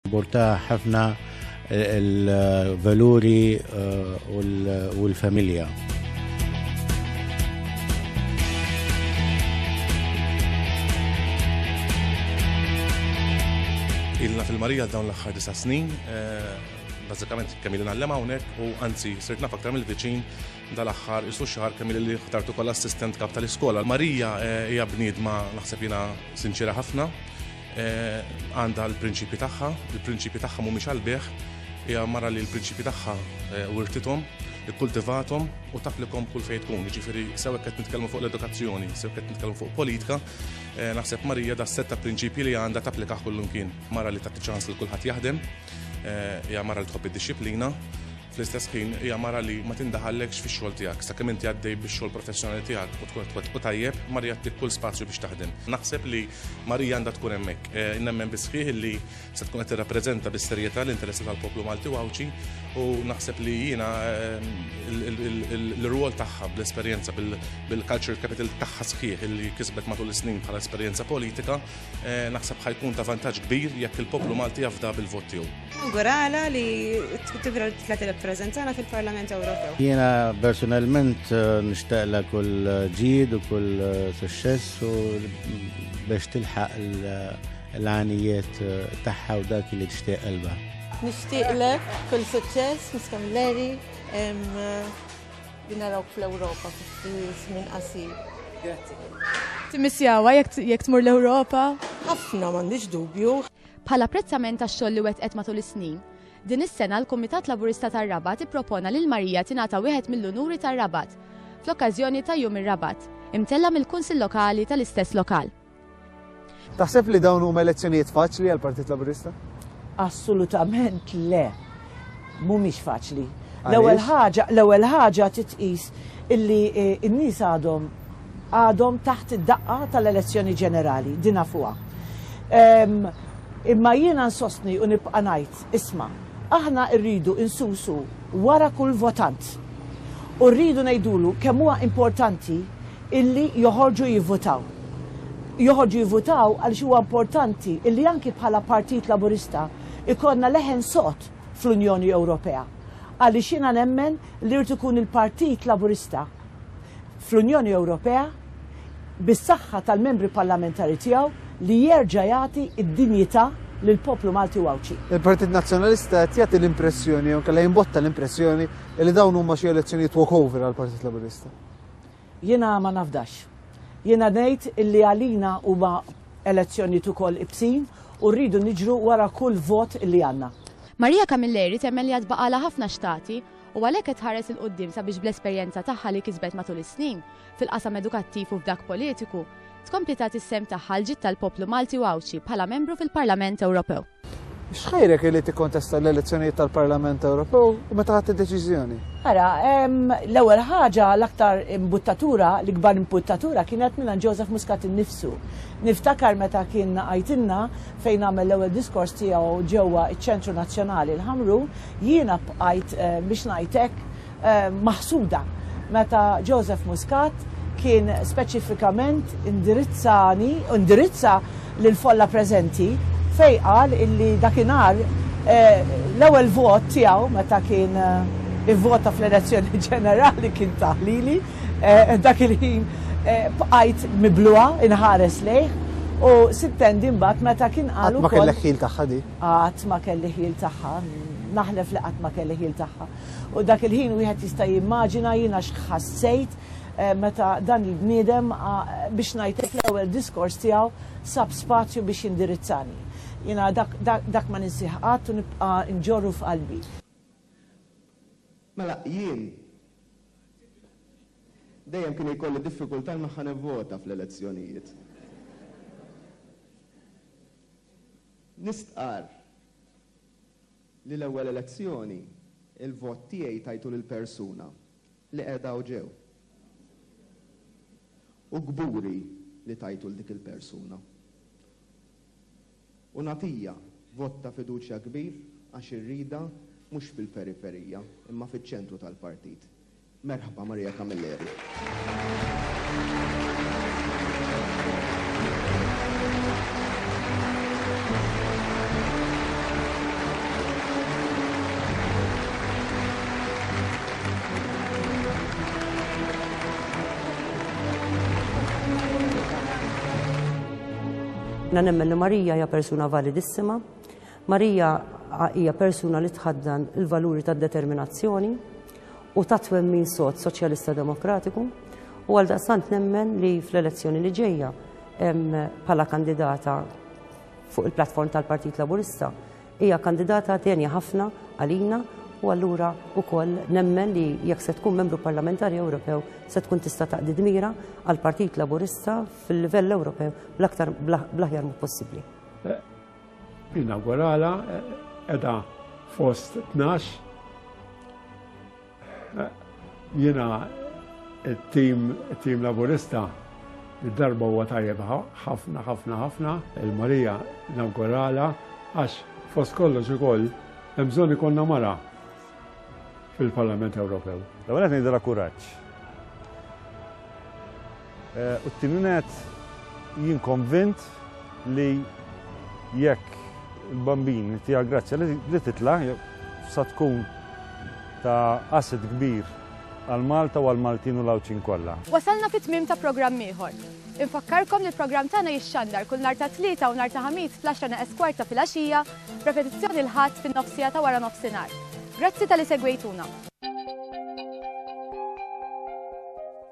Borta ħafna il-valuri eh, u l-familja. Ilna fil-Marija dawn l-axħar disa snin, eh, bazzikament kemm ilna l-lema unek u anzi sirt naf aktar mill-viċin dal-axħar isu xar kemm li ħtartu kol assistent kap tal-iskola. Marija eh, hija bniedma naħseb jina sinċira ħafna, Għandha l-prinċipji tagħha, il-prinċipji tagħha mhumiex għall-beħ, hija mara li l-prinċipji tagħha eh, wirtithom, ikkultivathom u tapplikom kull fejn tkun. Ġifieri sew qed nitkellmu fuq l-edukazzjoni, sew qed nitkellmu fuq politika, eh, naħseb Marija da setta prinċipji li għandha tapplika kullum kien. Mara li tagħti ċans li kulħadd jaħdem, eh, hija mara li tħobb id-disciplina, Fl-istess ħin hija mara li ma tindaħallekx fix-xogħol tiegħek sakemm inti għaddej bix-xogħol professjonali tiegħek u tkun qed u tajjeb, Marija ttik kull spazju biex taħdem. Naħseb li Marija għandha tkun hemmhekk. Eh, nemmen bisħieħ li se tkun qed tirrappreżenta bis-serjetà l-interessi tal-poplu Malti u Għawdxi u naħseb li jiena eh, l-rwol tagħha bl-esperjenza bil-culture capital tagħha sħiħ li kisbet matul is-snin bħala esperjenza politika eh, naħseb ħajkun ta' vantaġġ kbir jekk il-poplu Malti jafda bil-vot tiegħu. Nawgurala li tibra tlet il-prezentana fil-Parlament Ewropew. Jiena personalment eh, nishtaqla kull eh, ġid u kull eh, suċċess u biex tilħaq l-għanijiet tagħha u dak li tixtieq qalba. Nixtieqlek kull suċċess, niskem Leri, li narawk fl-Ewropa minn qasir. Grazie. Timissjawa jekk tmur l-Ewropa? Ħafna m'għandix dubju. Bħala apprezzament għax-xogħol li wettqet matul is-snin, din is-sena l-Kumitat Laburista tar-Rabat ippropona lil Marija tingħata wieħed mill-unuri tar-Rabat, fl-okkażjoni ta' Jum ir-Rabat, imtella' mill-Kunsill Lokali tal-istess lokal. Taħseb li dawn huma elezzjonijiet faċli għall-Partit Laburista? Assolutament le. mhumiex faċli. L-ewwel ħaġa, l-ewwel ħaġa titqis illi eh, n-nies għadhom għadhom taħt id-daqqa tal-elezzjoni ġenerali, dina fuqha. Ehm, imma jiena nsostni u nibqa' ngħid, isma' aħna rridu insusu wara kull votant. U rridu ngħidulu kemm huwa importanti illi joħorġu jivvotaw. Joħorġu jivvotaw għaliex huwa importanti illi anki bħala Partit Laburista ikollna leħen sod fl-Unjoni Ewropea għaliex jiena nemmen li jrid ikun il-Partit Laburista fl-Unjoni Ewropea bis-saħħa tal-membri parlamentari tiegħu li jerġa' jagħti d-dinjità lill-poplu Malti u Għawdxi. Il-Partit Nazzjonalista qed jagħti l-impressjoni jew kellha jimbotta l-impressjoni li dawn huma xi elezzjonijiet walkover għall-Partit Laburista. Jiena ma nafdax. Jiena ngħid illi għalina huma elezzjonijiet ukoll ibsin u rridu niġru wara kull vot illi għandna. Maria Camilleri temmen li għad baqgħalha ħafna x'tagħti u għalhekk qed tħares 'il quddiem sabiex bl-esperjenza tagħha li kisbet matul is-snin, fil-qasam edukattiv u f'dak politiku, tkompli tagħti s-sehem tagħha għall-ġid tal-poplu Malti u Għawdxi bħala membru fil-Parlament Ewropew. X'ħajrek li tikkontesta l-elezzjonijiet tal-Parlament Ewropew u meta ħadd id-deċiżjoni? Ara, l-ewwel ħaġa l-aktar imbuttatura, l-ikbar imbuttatura kienet minn Joseph Muscat innifsu. Niftakar meta kien għajtinna fejn għamel l-ewwel diskors tiegħu ġewwa ċ-Ċentru Nazzjonali l-Ħamrun, jiena bqajt eh, biex ngħidlek maħsuda meta Joseph Muscat kien speċifikament indirizzani, indirizza lill-folla preżenti fejn qal illi dakinhar l-ewwel vot tiegħu meta kien ivvota fl-elezzjoni ġenerali kien taħlili. Dak il-ħin bqajt mibluha inħares lejh u sittendi mbagħad meta kien qal ukoll Qatt ma kellek ħil tagħha di. Qatt ma kelli ħil tagħha, naħlef li qatt ma kelli ħil tagħha. U dak il-ħin wieħed jista' jimmaġina jiena x'ħassejt meta dan il-bniedem biex ngħidlek l-ewwel diskors tiegħu sab spazju biex jindirizzani. Jiena dak ma ninsih qatt u nibqa' nġorru f'qalbi. Mela jien dejjem kien jkolli diffikultà li ħa nivvota fl-elezzjonijiet. Nistqarr. li l-ewwel elezzjoni l-vot tiegħi tajtu lil persuna li qiegħda hawn ġew. U kburi li tajtu 'l dik il-persuna. U nagħtija vot ta' fiduċja kbir għax irridha mhux fil-periferija imma fiċ-ċentru tal-partit. Merħba Maria Camilleri. Jiena nemmen li Maria hija persuna validissima. Marija hija persuna li tħaddan il-valuri tad-determinazzjoni u ta' twemmin sod Soċjalista Demokratiku u għal daqstant nemmen li fl-elezzjoni li ġejja bħala kandidata fuq il-platform tal-Partit Laburista hija kandidata tenja ħafna għalina u allura wkoll nemmen li jekk se tkun membru parlamentari Ewropew se tkun tista' taqdi dmira għall-Partit Laburista fil-livell Ewropew bl-aktar bl-aħjar possibbli. Inawguralha qiegħda fost tnax. Jiena it-tim tim Laburista id-darba huwa tajjeb ħafna ħafna ħafna il-Marija nawguralha għax fost kollox ukoll hemm bżonn ikollna mara fil-Parlament Ewropew. L-ewwel qed ngħidilha kuraġġ. U t-tieni nett, jien konvint li jekk il-bambin tiegħek grazzja li titla' sa tkun ta' asset kbir għal Malta u għal Maltin u l-Għawdxin kollha. Wasalna fit-tmiem ta' programm ieħor. Infakkarkom li l-programm tagħna jixxandar kull nhar ta' Tlieta u nhar ta' Ħamis fl-għaxra neqes kwart ta' filgħaxija, b'repetizzjoni l-Ħadd fin-nofsija ta' wara nofsinhar. Grazzi talli segwejtuna.